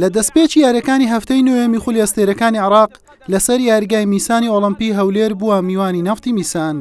لە دەستپێکی یارییەکانی هەفتەی نۆیەمی خولی ئەستێرەکانی عێراق لەسەر یاریگای میسانی ئۆڵەمپی هەولێر بووە میوانی نەفتی میسان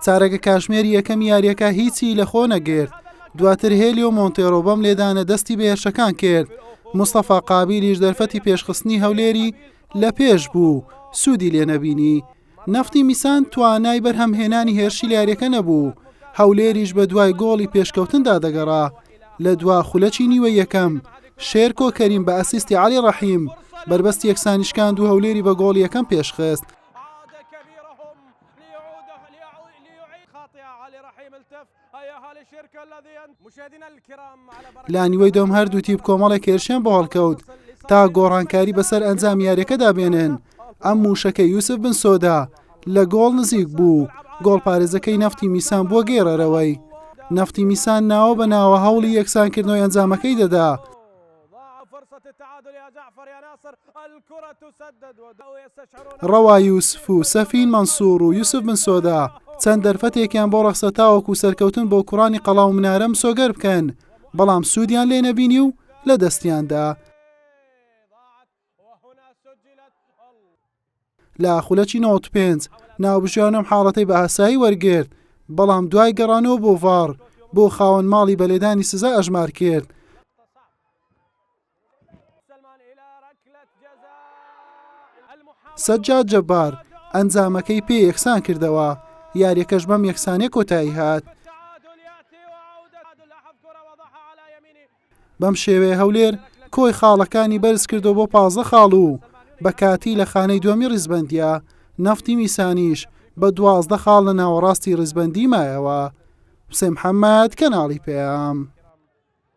چارەگە کاژمێری یەکەمی یارییەکە هیچی لە خۆ نەگرت دواتر هێلی و مۆنتێرۆ بەم لێدانە دەستی بە هێرشەکان کرد مستەفا قابیلیش دەرفەتی پێشخستنی هەولێری لە پێش بوو سوودی لێ نەبینی نەفتی میسان توانای بەرهەمهێنانی هێرشی لە یارییەکە نەبوو و هەولێریش بەدوای گۆڵی پێشکەوتندا دەگەڕا، لە دوا خولەکی نیوەی یەکەم، شێرکۆ کەریم بە ئەسیستی عەلی ڕەحیم، بەربەستی یەکسانی شکاند و هەولێری بە گۆڵی یەکەم پێشخست. لە نیوەی دوم هەردوو تیپ کۆمەڵێک هێرشیان بۆ هەڵکەوت تا گۆڕانکاری بەسەر ئەنجام یاریەکەدا بێنن ئەم موشەکە یوسف بن سۆدا لە گۆڵ نزیک بوو گۆڵ پارێزەکەی نەفتی میسان بووە گەیڕەرەوەی نەفتی میسان ناوە بە ناوە هەوڵی یەکسانکردنەوەی ئەنجامەکەی دەدا ضاع فرصة التعادل يا جعفر يا ناصر الكرة تسدد وبدأوا يستشعرون ڕەوا یوسف و سەفین مەنسووڕ و یوسف بن سۆدا چەند دەرفەتێکیان بۆ ڕەخسا تاوەکو سەرکەوتن بۆ کوڕانی قەڵا و منارە مسۆگەر بکەن، بەڵام سوودیان لێ نەبینی و لەدەستیان دا. ضاعت لە خولەکی نەوەد و پێنج ناوبژیوان ئەم حاڵەتەی بە ئاسایی وەرگرت، بەڵام دوای گەڕانەوە بۆ ڤاڕ بۆ خاوەن ماڵی بە لێدانی سزا ئەژمار کرد. سەجاد جەبار ئەنجامەکەی پێ یەکسان کردەوە، یارییەکەش بەم یەکسانییە کۆتایی هات. بەم شێوەیە هەولێر کۆی خاڵەکانی بەرز کردەوە بۆ پازدە خاڵ و بە کاتی لە خانەی دووەمی ڕیزبەندیە، نەفتی میسانیش بە دوازدە خاڵ لە ناوەڕاستی ڕیزبەندی مایەوە. حوسێن محەممەد، کەناڵی پەیام.